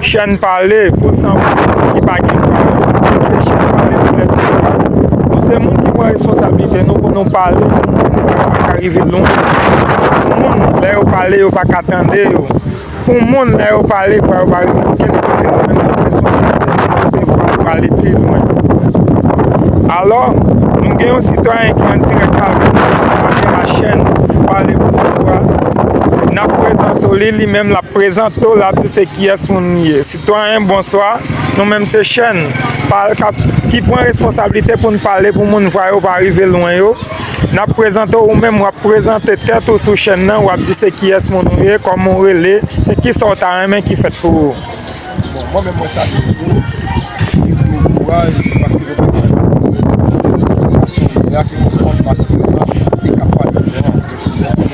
Chèn pale pou san moun ki pa gen dwa yo. Nou se chèn pale pou lè san dwa yo. Nou se moun ki pran responsablite nou pou nou pale pou moun lè yo pa ka rive lwen yo. Pou moun lè yo pale yo pa ka tande yo. Pou moun lè yo pale vwa yo pa rive okenn kote. Nou menm nou gen responsablite pou nou pote vwa nou pale pi lwen. Alò, nou gen yon sitwayen ki an dirèk avè nou ki pale la chèn pale pou san dwa. N ap prezante w li, li menm l ap. Prezante w la tou se kiyès moun ou ye. Sitwayen bonswa, nou menm se chèn ki pran responsablite pou n pale pou moun vwa yo pa rive lwen yo. N ap prezante w ou menm, w ap prezante tèt ou sou chèn nan, w ap di se kiyès moun ou ye, kòman w rele, se kisa w ta renmen ki fèt pou ou. Bon, mwen menm mwen salye nou tou, mwen di nou kouraj paske nou pral fè bon boulot. Mwen gen yon seri de atik pou nou fè paske nou menm se kap pale nou an, mwen se yon seri de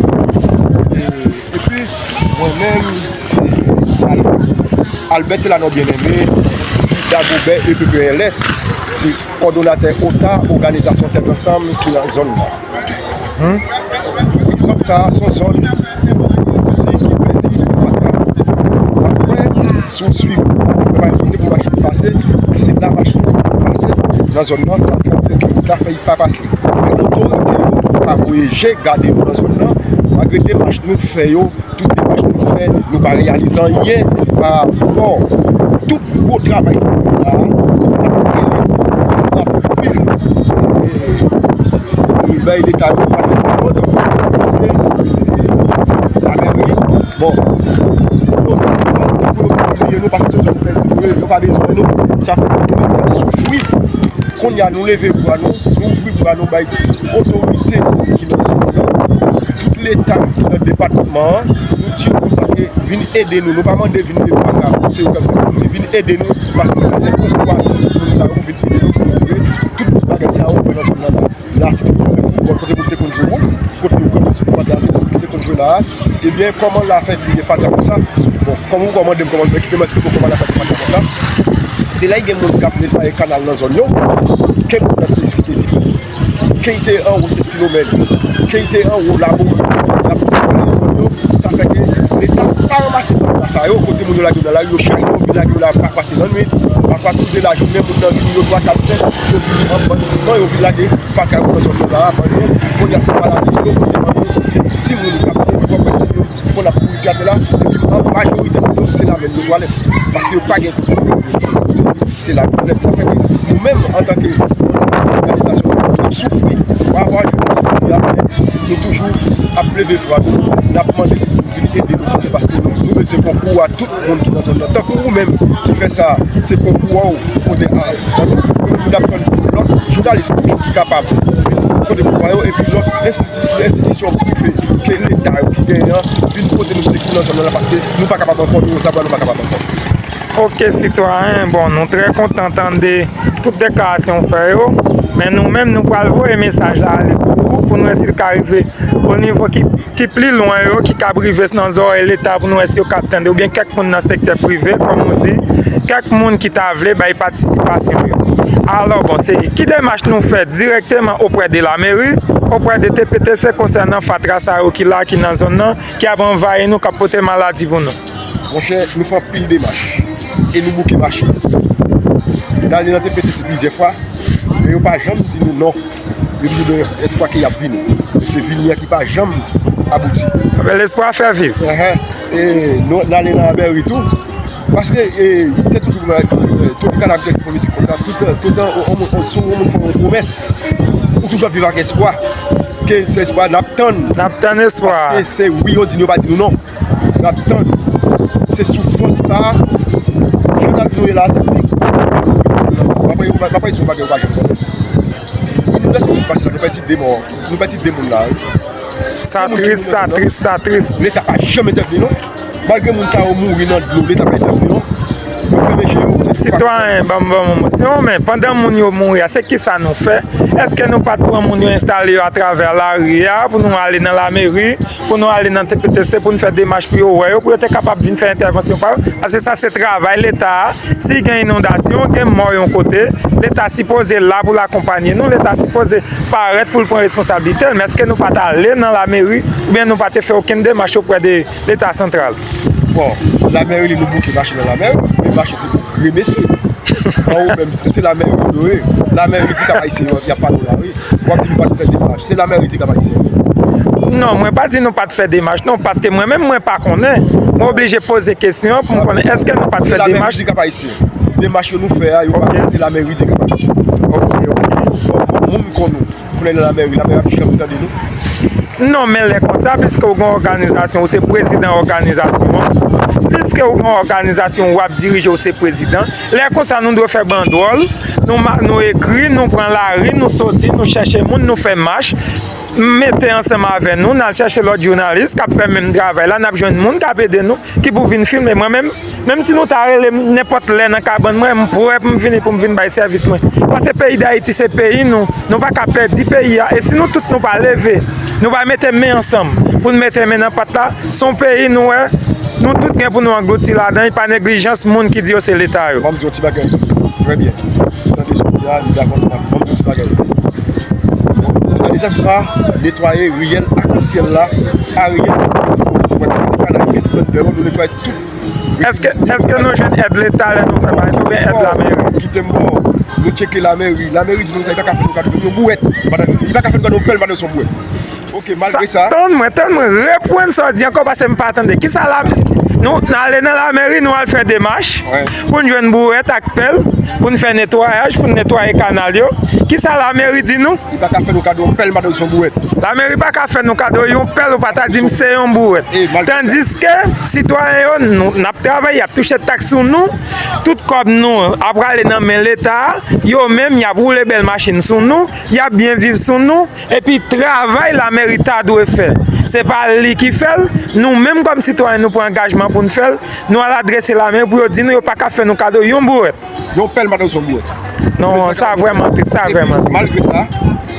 moun ki fè sa. Epi mwen menm se Albert Telanor Bien-Aimé, di Dagobè EPPLS, se kòdonatè OTA, Oganizasyon Tèt Ansanm ki nan zòn nan. Zòn sa a se yon zòn ki di ki pèdi fatra. Apre si w swiv mwen pa gen kote pou machin pase, men se la machin pase nan zòn nan fatra fè ki ta fè li pa pase. Men otorite yo pa voye je gade nou nan zòn nan, malgre demach nou fè yo, tout demach nou fè, nou pa reyalize anyen pa rapò tout gwo travay sa yo la, anpil anpil moun bay leta yo pa gen pa wòl, anpil moun moun pa gen moun, bon nou pa pou nou kontinye nou pa se sou zòn nou fè nou, nou pa bezwen nou, sa fè nou moun moun soufri, kounye a. Nou leve bra nou, nou ouvri bra nou bay tout otorite ki nan zòn nan, tout leta ki nan depatman an, nou di yo konsa ke vin ede nou, nou pa mande vin ede nou ak lajan, se yo k ap ede nou, nou di vin ede nou paske nou bezwen tout moun sa yo vin ede nou pou nou retire tout bagay sa yo ki nan zòn nan la. La se te yon teren foutbòl kote moun te konn jwe boul, kote yo konn jwe fatra, se kote moun te konn jwe la a, ebyen kòman la fè vire fatra konsa, bon kòm ou kòmande m kòman m fè, kite m esplike w kòman la fè vire fatra konsa. Se lè gen moun kap netwaye kanal nan zòn yo, ke moun nan te site ti moun. Ke y te anwo Sen Filomèn, ke y te anwo Labourdi, lap netwaye zòn yo, sa fè ke leta pa ranmase tout pwa sa yo, kote moun yo lage yo nan lari, yo chaje yo vin lage yo la, pafwa se lannwit, pafwa tou de lajounen, moun nan vini yo twa, kat, senk, yo vini an bann ti ban, yo vin lage fatra yo nan zòn yo la a, bann moun, kounye a se pa lari yo, kounye a bann moun, se ti moun kap mouri, kòk pè ti moun. Pou moun ap kouri gade la, epi an majorite moun yo se lavel yo pwale. Paske yo pa gen kote pou yo kouri. Se la pwale. Sa fè ke nou menm an tanke organizasyon moun moun ap soufri. Pa waj moun moun soufri la moun moun. Nou toujou ap leve vwa nou. N ap mande pou moun vini ede nou. Paske nou bezwen konkou a tout. moun ki nan zòn nan tankou ou menm ki fè sa se konkou a ou pou pote a pou n ap tann lòt jounalis toujou ki kapab pote pouvwa yo epi lòt enstitisyon prive ke leta yo ki genyen an vin pote nou sekou nan zòn nan paske nou pa kapab ankò nou resevwa nou pa kapab ankò. Ok sitwayen bon nou trè kontan tande tout deklarasyon ou fè yo men nou menm nou pral voye mesaj la ale pou ou pou nou wè si l ka rive o nivo ki ki pli lwen yo ki kab rive nan zòrèy leta pou nou wè si yo kab tande oubyen kèk moun nan sektè prive kòm nou di kèk moun ki ta vle bay patisipasyon yo alò bon se ki demach nou fè dirèkteman oprè de la meri oprè de tptc konsènan fatra sa yo ki la ki nan zòn nan ki ap anvayi nou kap pote maladi pou nou. Monchè nou fè anpil demach e nou bouke mache. Dale nan te pete se plizyè fwa men yo pa janm di nou non. Yo toujou gen yon espwa ke yap vini. Se vini an ki pa janm abouti. Anben lespwa fè viv. E nou ale nan Abery tou. Paske te toujou gen Tropicana ki te fè mizik konsa. Toutan yon moun fè yon pwomès ou toujou ap viv ak espwa. Ke se espwa nap tann. Nap tann espwa. Paske se wi yo di nou yo pa di nou non. nap tann se soufrans sa jan nap viv la se pi gwo bagay mwen pa di se yon bagay ou pa janm konnen inonikasyon sot pase la nou pèdi 2 mò nou pèdi 2 moun la sa tris sa tris sa tris leta pa janm entèvni non malgre moun sa yo mouri nan dlo leta pa entèvni non nou fèmen je nou sitwayen banm banm yon mo se yon men pandan moun yo mouri a se kisa nou fè eske nou pat pran moun yo enstale yo atravè lari a pou nou ale nan lameri pou nou ale nan TPTC pou nou fè demach pou yo wè yo, pou yo te kapab vin fè entèvansyon pa yo, paske sa se travay leta a, si gen inondasyon, gen mò yon kote, leta sipoze la pou l akonpanye nou, leta sipoze parèt pou l pran responsabilite l, men eske nou pa t ale nan lameri, oubyen nou pa te fè okenn demach oprè de leta santral. Bon, lamè rele nou bouke mache nan lamè, men mache se pou gremesi. An ou menm, se lamè yo nou ye. Lamè redi kap ayisyen yo anvi ap pale ou la ri. Wap di nou pat fè demach. Se lamè redi kap ayisyen yo. Non, mwen pa di nou pat fè demach non, paske mwen menm mwen pa konnen. Mwen oblije poze kesyon pou mwen konnen eske nou pat fè demach. Se lamè redi kap ayisyen yo. Demach yo nou fè a, yo pa se lamè redi kap ayisyen yo. Ok, ok. Moun kon nou. Pou lè nan lamè wi lamè ap di kanpe tande nou. Non men lè konsa piske ou gen òganizasyon ou se prezidan òganizasyon an piske ou gen òganizasyon wap dirije ou se prezidan lè konsa nou dwe fè bandwòl nou ekri nou pran lari nou soti nou chèche moun nou fè mach mete ansanm avè nou nal chèche lòt jounalis kap fè menm travay la nap jwenn moun kap ede nou. Ki pou vin filme mwen menm. Menm si nou ta rele m nenpòt lè nan kabann mwen, m prè pou m vini pou m vin bay sèvis mwen. Pase peyi Dayiti se peyi nou, nou pa ka pèdi peyi a. E si nou tout nou pa leve, nou pa mete men ansanm pou n mete men nan pat la, se yon peyi nou wè, nou tout gen pou nou anglouti ladan, e pa neglijans moun ki di yo se Leta yo. Ban m di w yon ti bagay. Trè byen. M tande sou pi a, m dakò ansanm avè w. Ban m di w yon ti bagay. Òganizasyon sa a netwaye riyèl akansyèl la. Ariel Mwen te mete kanal pi pwent dèyè w nou netwaye tout Rivyè Mwen Èske nou jwenn èd leta lè nou fè bagay sa oubyen èd lameri? Kite m bon Nou tcheke lameri Lameri di nou sa li pa ka fè nou kado menm yon bouwèt pandan li pa ka fè nou kado yon pèl pandan li se yon bouwèt Ok malgre sa Tann mwen tann mwen reprann sa w di ankò paske m pa tande Kisa lameri Nou ale nan lameri nou al fè demach Pou n jwenn bourèt ak pèl pou n fè netwayaj, pou n netwaye kanal yo, ki sa lameri di nou? Li pa ka fè nou kado yon pèl, m pa ta di se yon bourèt. Lameri pa ka fè nou kado yon pèl ou pa ta di m se yon bourèt. Tandiske, sitwayen yo, n ap travay, y ap touche taks sou nou, tout kòb nou a prale nan men Leta, yo menm y ap woule bèl machin sou nou, y ap byen viv sou nou. Epi travay lamèri ta dwe fè, se pa li ki fè l, nou menm kòm sitwayen nou pran angajman pou n fè l, nou al adrese lamèri pou yo di nou yo pa ka fè nou kado yon bouwèt. Yon pèl madanm se yon bouwèt. Non, sa vrèman tris, sa vrèman tris. Malgre sa,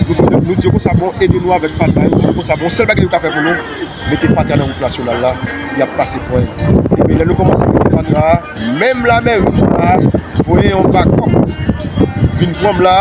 nou fè nou di yo konsa bon, ede nou avèk fatra yo, di nou konsa bon, sèl bagay yo ka fè pou nou, mete fatra nan wout nasyonal la, y ap pase pwen yo. Epi lè nou kòmanse mete fatra a. Menm lame rus la voye yon bakòp vin pran m la,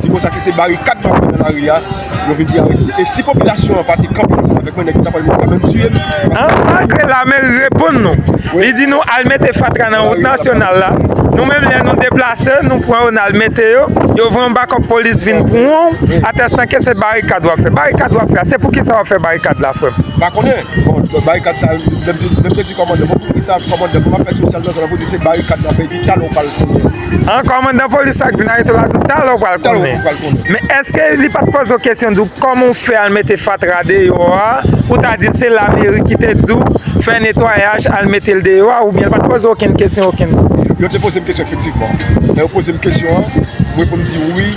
se konsa ke se barikad m ap pran nan lari a, yo vin pran avèk yo. E si popilasyon an pa te kanpe ansanm avèk mwen, nèg yo ta pral vin kanpe m tiye m. An malgre lame reponn nou, li di nou al mete fatra nan wout nasyonal la, nou menm lè nou deplase, nou pran yo n al mete yo, yo voye yon bakòp polis vin pran w, atèstan ke se barikad w ap fè. Barikad w ap fè a, se poukisa w ap fè barikad la frè m? M pa konnen. Bon, barikad sa, lèm di, lèm te di kòmandè, bon poukisa kòmandè, kòman fè sosyal nan zòn nan pou di se barikad nan fè, epi talè ou pral konnen. An, kòmandan polis sa k vin arete w la di w talè ou pral konnen. Talè ou pral konnen. Men èske li pa t poze w kesyon di w kòman w fè al mete fatra deyò a, ou ta di se lameri ki te di w fè netwayaj al mete l deyò a, oubyen l pa t poze w okenn kesyon okenn. Yo te poze m kesyon efektivman. Lè yo poze m kesyon an, m reponn di wi.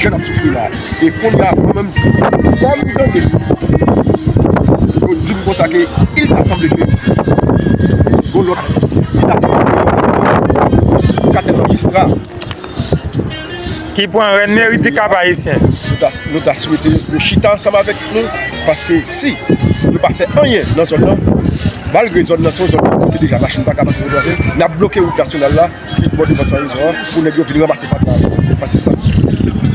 Jan nap soufri la. E konnya mwen menm kòm m tande yo di m konsa ke il ta sanble ke gon lòt ki ta sanble ke yo ka te majistra. Ki pran rèn meri ti kap ayisyen. Nou ta swete yo chita ansanm avèk nou paske si yo pa fè anyen nan zòn nan malgre zòn nan se yon zòn ki bloke deja machin pa ka pase pou l travèse nap bloke wout nasyonal la. Piblik bò devan Sanrizon an pou nèg yo vin ranmase fatra yo. Yo pa se sa.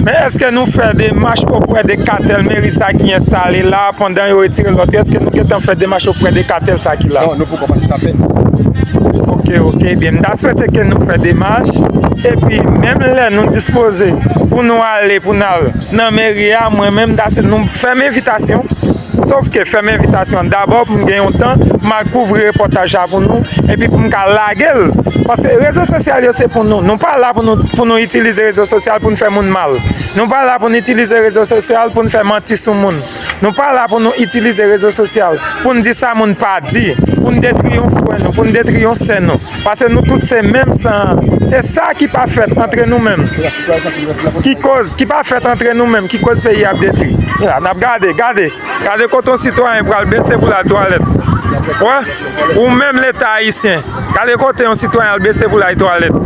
Men eske nou fè demach oprè de katèl meri sa ki enstale la pandan yo retire lòt yo? Eske nou gentan fè demach oprè de katèl sa ki la? Non, nou poko pase sa fè nou. Ok, ok. Ebyen m ta swete ke nou fè demach. Epi menm lè nou dispoze pou nou ale pou n al nan meri a, mwen menm m ta swete nou fè m envitasyon. Sof ke fèm envitasyon an dabò pou m gen yon tan pou m al kouvri repòtaj la pou nou epi pou m ka lage l paske rezo sosyal yo se pou nou nou pa la pou nou itilize rezo sosyal pou nou fè moun mal nou pa la pou nou itilize rezo sosyal pou nou fè manti sou moun nou pa la pou nou itilize rezo sosyal pou nou di sa moun pa di pou nou detri yon frè nou pou nou detri yon sè nou. Pase nou tout se menm san an. Se sa ki pa fèt antre nou menm ki koz, ki pa fèt antre nou menm ki koz peyi a ap detwi. N ap gade, gade, gade kote yon sitwayen pral bese pou l al twalèt. Wè, ou menm Leta Ayisyen, gade kote yon sitwayen al bese pou l al twalèt.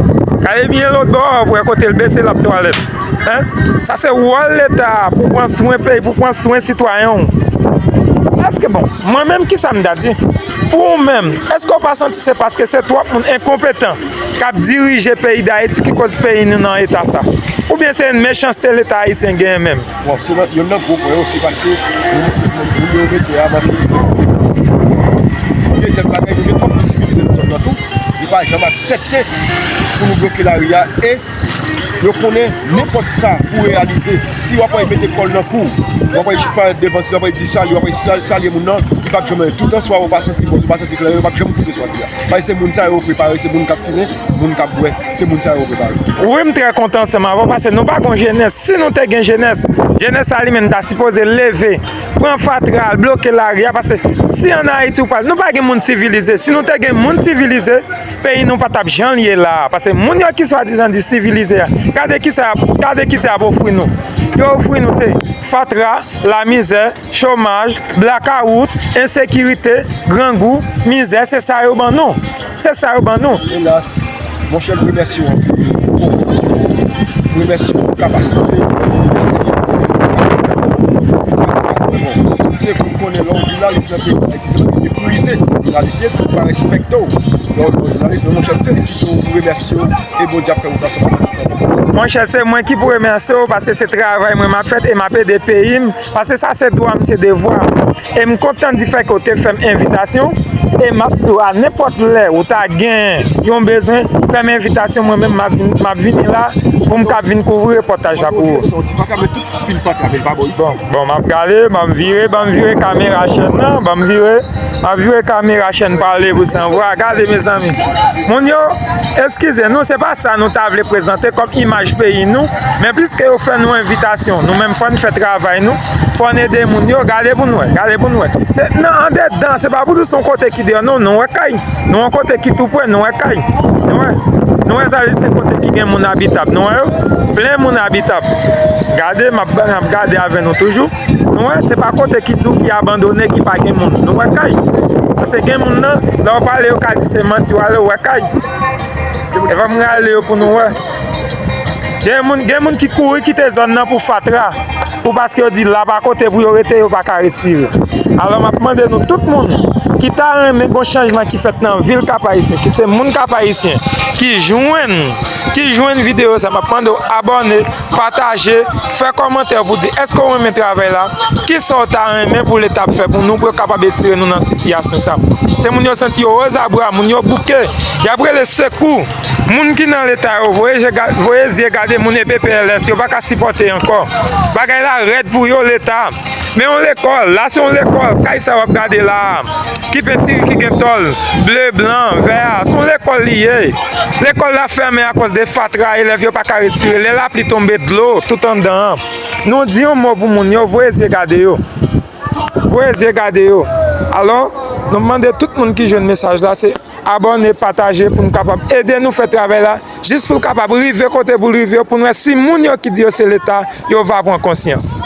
Gade byen lotbò a pou wè kote l bese l ap twalèt. Hein? Sa se wòl Leta a pou pran swen peyi, pou pran swen sitwayen w. Èske bon, mwen menm ki sa m ta di? Pou ou menm, eske ou pa santi se paske se twòp moun enkonpetan k ap dirije peyi Dayiti ki koz peyi nou nan eta sa? Oubyen se yon mechanste Leta ayisyen genyen menm? Bon, se yon nan gwo pwen yo, se paske moun yo mete a manke edikasyon. Dezyèm bagay, nou gen twòp moun sivilize nan zòn nan tou, yo pa janm aksepte pou nou bloke lari a e. Yo konnen nenpòt sa pou reyalize, si w ap wè yo mete kòl nan kou w, w ap wè yo parèt devan, si w ap wè yo di sali, w ap wè yo salye moun nan, li pap janm anyen. Tout answa ou pa santi bon, ou pa santi klè, yo pap janm koute swa di a. Paske se moun sa yo yo prepare, se moun k ap fimen, moun k ap bwè, se moun sa yo yo prepare. Wi m trè kontan ansanm avè w paske nou pa gon jenès, si nou te gen jenès, jenès sa li menm ta sipoze leve, pran fatra al bloke lari a paske si an Ayiti ou pa, nou pa gen moun sivilize, si nou te gen moun sivilize, peyi nou pa t ap jan l ye la a. Pase moun yo ki swadizan di sivilize a, gade ki sa y ap ofri nou. Yo ofri nou se fatra, lamizè, chomaj, blakawout, ensekirite, grangou, mizè, se sa yo ban nou. Se sa yo ban nou. Elas, monchè m remèsye w anpil pou konpreyansyon w, m remèsye w pou kapasite w pou konprann sa ki ap pase nan peyi a. Mwen pa kwè w, se pou w konnen lè w jounalis nan peyi a, Si se pa te meprize jounalisye, pou pa respekte w. Donk jounalis mwen mwen chèf felisite w, mwen remèsye w e Bondye ap fè wout la san pèdi tan. Monchè se mwen ki pou remèsye w paske se travay mwen m ap fè e m ap ede peyi m paske sa se dwa m, se devwa m. E m kontan di fèt ke w te fè m envitasyon e m ap di w a nenpòt lè ou ta gen yon bezwen fè m envitasyon mwen menm m ap vini la pou m ka vin kouvri repòtaj la pou ou. Pil fatra men li pa bon isit. Bon map gade, banm vire, banm vire kamera chèn nan, banm vire, map vire kamera chèn pale pou san vwa, gade mezanmi, moun yo, eskize nou se pa sa nou ta vle prezante kòm imaj peyi nou, men pliske yo fè nou envitasyon, nou menm fòn fè travay nou, fòn ede moun yo, gade pou nou wè, gade pou nou wè, se nan andedan, se pa pou nou son kote ki deyò non, nou wè kay. Nou an kote ki tou pwen, nou wè kay. Nou wè, nou wè sa li se kote ki gen moun abitab. Nou wè yo, plen moun abitab. Gade, m ap gade avè nou toujou. Nou wè, se pa kote ki tou ki abandone, ki pa gen moun. Nou wè kay. Se gen moun nan, lè w pale yo ka di se manti w ale, ou wè kay. E van m rale yo pou nou wè. Gen moun ki kouri kite zòn nan pou fatra. Pou paske yo di la pa kote pou yo rete yo paka respire. Alò map mande nou tout moun ki ta renmen gon chanjman ki fèt nan vil kap ayisyen ki se moun kap ayisyen ki jwenn ki jwenn video sa map mande ou abòne pataje fè kòmantè pou di eske ou renmen travèy la ki sa ou ta renmen pou leta ap fè pou nou pou yo kapab etire nou nan sitiyasyon sa se moun yo santi yo ozabra moun yo bouke yap rele sekou. Moun ki nan leta yo voye zye gade moun epe pls yo paka sipote anko bagay la red pou yo leta men yon lekol la se yon lekol kay sa wap gade la ki pentire ki gen tol ble blan vè a se yon lekol li ye lekol la fèmen a koz de fatra elev yo paka respire lè lapli tonbe dlo tout andan an nou di yon mo pou moun yo voye zye gade yo voye zye gade yo alon nou mande tout moun ki jwenn mesaj la se. Abòne, pataje pou nou kapab ede nou fè travay la jis pou l kapab rive kote pou l rive pou nou wè si moun yo ki di yo se leta yo va pran konsyans.